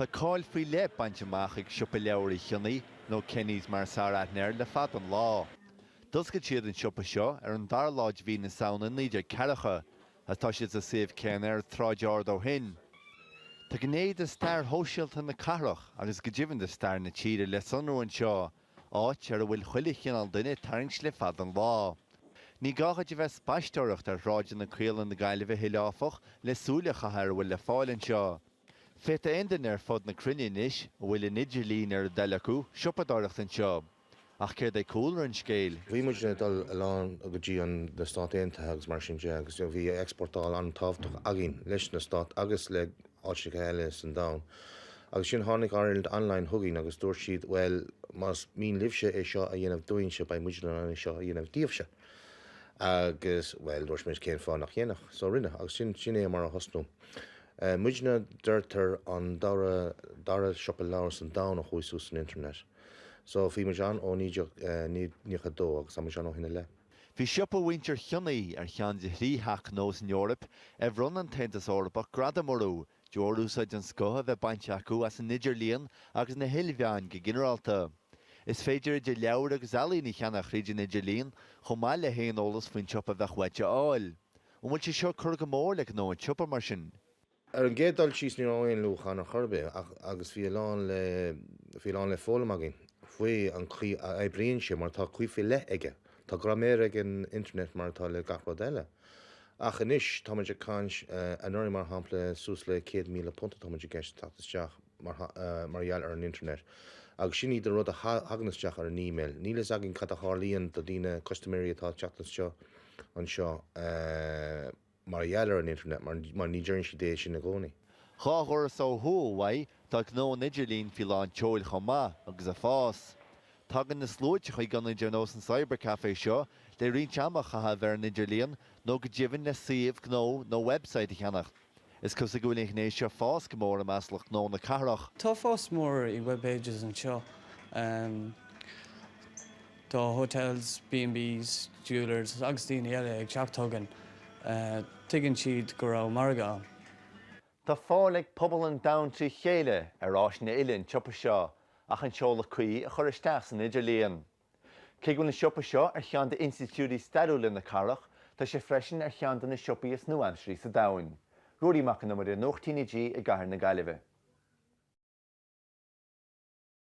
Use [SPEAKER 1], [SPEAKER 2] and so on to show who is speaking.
[SPEAKER 1] Tá cáil faoi leith bainte amach ag Siopa Leabhar Uí Chionnaith, nó Kenny's mar is fearr aithne air, le fada an lá. D'oscail siad an siopa seo ar an dara lá de mhí na Samhna 19 ceathracha, agus tá siad sa suíomh céanna ar an tSráid Ard ó shin. Tá gné de stair shóisialta na cathrach, agus go deimhin de stair na tíre, le sonrú anseo, áit a bhfuil chuile chineál duine ag tarraingt le fada an lá. Ní gá dhuit a bheith ag spaisteoireacht ar shráideanna caola na Gaillimhe a thuilleadh, áfach, le súil a chaitheamh ar a bhfuil le fáil anseo. Féadfaidh aon duine ar fud na cruinne anois, a bhfuil an idirlíon ar a ndeil acu, siopadóireacht anseo. Ach céard é cúlra an scéil? Bhí muid ag dul
[SPEAKER 2] a lán go dtí na Stáit Aontaithe agus mar sin de agus bhí exportáil an-tábhachtach againn leis na Stáit agus le áiteacha eile san domhan. Agus sin tháinig Ireland Online chugainn agus dúirt siad bhuel más mian libhse é seo a dhéanamh dúinnse beidh muid in ann é seo a dhéanamh díobhse. Agus bhuel dúirt muid cén fáth nach ndéanfadh. So rinne agus sin, sin é mar a thosnaigh muidne. Deirtear an dara, dara siopa leabhar san domhan a chuaigh suas san internet. So bhí muid ann ó 1992 agus tá muid ann ó shin i leith. Bhí siopa
[SPEAKER 1] mhuintir Chionnaith ar cheann de thrí theach gnó san Eoraip ar bhronn an tAontas Eorpach gradaim orthu de bharr úsáid den scoth a bheith bainte acu as an idirlíon agus na hilmheáin go ginearálta. Is féidir idir leabhair agus ealaín a cheannach thríd an idirlíon chomh maith le haon eolas faoin siopa a bheadh uait a fháil. An bhfuil sé seo ag cur go mór le gnó an tsiopa mar sin? Ar an gcéad
[SPEAKER 2] dul síos ní raibh aon luach ann ar chor ar bith ach agus bhí a lán le bhí a lán le foghlaim againn faoi an chaoi a oibríonn sé mar tá caoi faoi leith aige. Tá graiméar ag an internet mar atá le gach rud eile. Ach anois tá muid ag caint anuraidh mar shampla suas le céad míle punt atá muid i gceist ag teacht isteach mar mar gheall ar an internet agus sin iad na rud a thagann isteach ar an email. Níl a fhios againn cad a tharlaíonn do daoine custaiméirí atá ag teacht isteach anseo eh. mar a gheall ar an internet mar mar ní deireann siad é sin i gcónaí. Dhá dhoras
[SPEAKER 1] ó thuaidh uaidh tá gnó an idirlín faoi lán tseoil chomh maith agus ag fás. Tagann na sluaite chuig ionaid ar nós an Cyber Café seo le roinnt ama a chaitheamh ar an idirlíon nó go deimhin le suíomh gnó nó website a cheannacht. Is cosúil go bhfuil an ghné seo ag fás go mór i measc lucht gnó na cathrach. Tá fás mór
[SPEAKER 3] i webpages anseo. Tá hotels, B&Bs, jewellers agus daoine eile ag teacht chugainn. Tuigeann siad go raibh margadh ann. Tá
[SPEAKER 1] fáil ag pobal an domhain trí chéile ar áiseanna uile an tsiopa seo ach an seoladh cuí a chur isteach san idirlíon. Cé go bhfuil an siopa seo ar cheann d'institiúidí stairiúla na cathrach, tá sé freisin ar cheann de na siopaí is nua-aimsirí sa domhan. Ruairí Mac an Iomaire, Nuacht TnaG i gCathair na Gaillimhe.